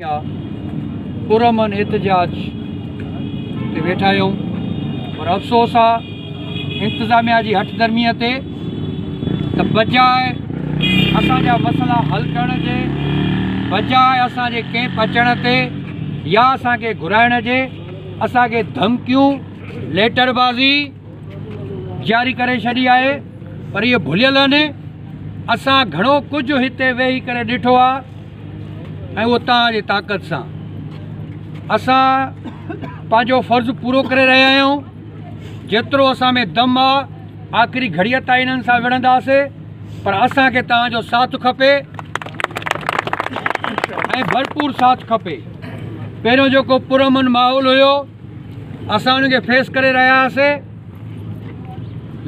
يا پرامن احتجاج تي ويٺا آهيون پر افسوس آ انتظاميا جي هٺ درمي تي ته بجاء اسان جا مسئلا حل ڪرڻ جي بجاء اسان جي ڪيمپ اچڻ تي يا اسان کي گهرائڻ جي اسان کي ڌمڪيون ليٽر بازي جاري ڪري ڇڏي آهي پر اهي ڀليل آهن اسان گهڻو ڪجهه هتي ويهي ڪري ڏٺو آ ۽ اتان جي طاقت سان اسان پنهنجو فرض پورو ڪري رهيا آهيون جيترو اسان ۾ دم آ آخري گهڙيء تائين انهن سان وڙهنداسي پر اسان کي توهان جو ساٿ کپي ۽ ڀرپور ساٿ کپي پهريون جيڪو پرامن ماحول هيو اسان ان کي فيس ڪري رهياسي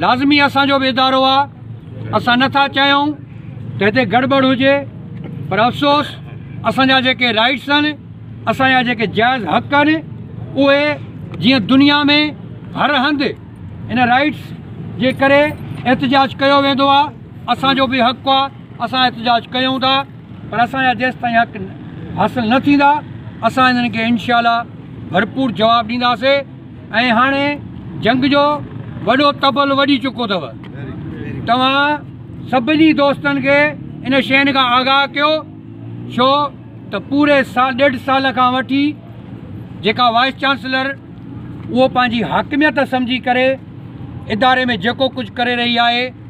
لازمي اسان جو به ادارو آ اسان نه ٿا چاهيون ته هتي گڙٻڙ هجي پر افسوس اسان جا جيڪي رائيٽس آهن اسان جا جيڪي جائز حق آهن اهي جيئن دنيا ۾ هر هنڌ ان رائيٽس جي ڪري احتجاج ڪيو ويندو آ اسان جو به حق آ اسان احتجاج ڪيون ٿا پر اسان جا جيس تائين حق حاصل نه ٿيندا اسان انهن کي انشاء الله ڀرپور جواب ڏينداسي ۽ هاڻي جنگ جو وڏو طبل وڄي چڪو اٿو توهان سڀني دوستن کي ان شين کان آگاهه ڪيو ڇو ته پوري سال ڏيڍ سال کان وٺي جيڪا وائس چانسلر اهو پنهنجي حاڪميت سمجهي ڪري اداري ۾ جيڪو ڪجهه ڪري رهي آهي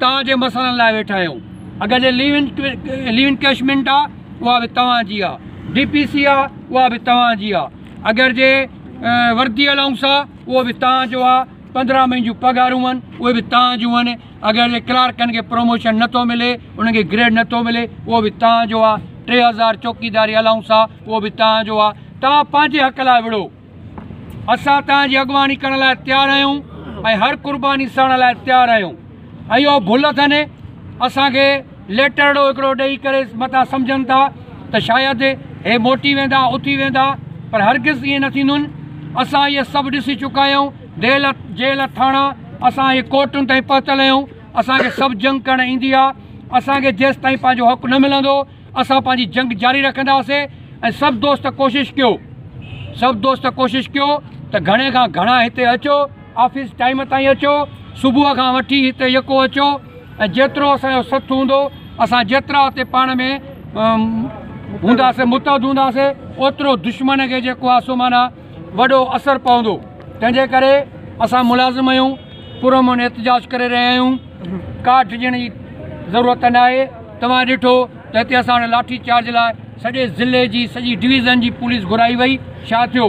توهان جي مسئلن لاء ويٺا آهيون اگر جي ليو ان ڪيشمينٽ آ اها به توهان جي آ ڊي پي سي آ اها به توهان جي آ اگر جي وردي الاؤنس آ اهو به توهان جو آ پندرهن مهين جون پگهارون هن اهي به توهان جون هن اگر جي ڪلارڪن کي پروموشن نه ٿو ملي انهن کي گريڊ نه ٿو ملي اهو به توهان جو آ ٽي هزار چوڪيداري الاؤنس آ اهو به توهان جو آ توهان پنهنجي حق لاء وڙهو اسان توهان جي اڳواڻي ڪرڻ لاء تيار آهيون ۽ هر قرباني سهڻ لاء تيار آهيون ۽ اهو ڀل اٿن اسان کي ليٽرڙو هڪڙو ڏئي ڪري متان سمجهن ٿا ته شايد هي موٽي ويندا اٿي ويندا پر هرگز ائين نه ٿيندون اسان اهي سڀ ڏسي چڪا آهيون ديل جيل ٿاڻا اسان اهي ڪورٽن تائين پهتل آهيون اسان کي سڀ جنگ ڪرڻ ايندي آهي اسان کي جيستائين پنهنجو حق نه ملندو اسان پنهنجي جنگ جاري رکنداسين ۽ سڀ دوست ڪوشش ڪيو سڀ دوست ڪوشش ڪيو ته گهڻي کان گهڻا هتي اچو آفيس ٽائيم تائين اچو صبح کان وٺي هتي يڪو اچو ۽ جيترو اسان جو سٿ هوندو اسان جيترا هتي پاڻ ۾ هونداسين متحد هونداسين اوترو دشمن کي جيڪو آهي سو معنيٰ وڏو اثر پوندو تنهن جي ڪري اسان ملازم اهيون پرامن احتجاج ڪري رهيا آهيون ڪا ڊڄڻ جي ضرورت ناهي توهان ڏٺو ته هتي اسان وٽ لاٺي چارج لاء سڄي ضلعي جي سڄي ڊويزن جي پوليس گهرائي وئي ڇا ٿيو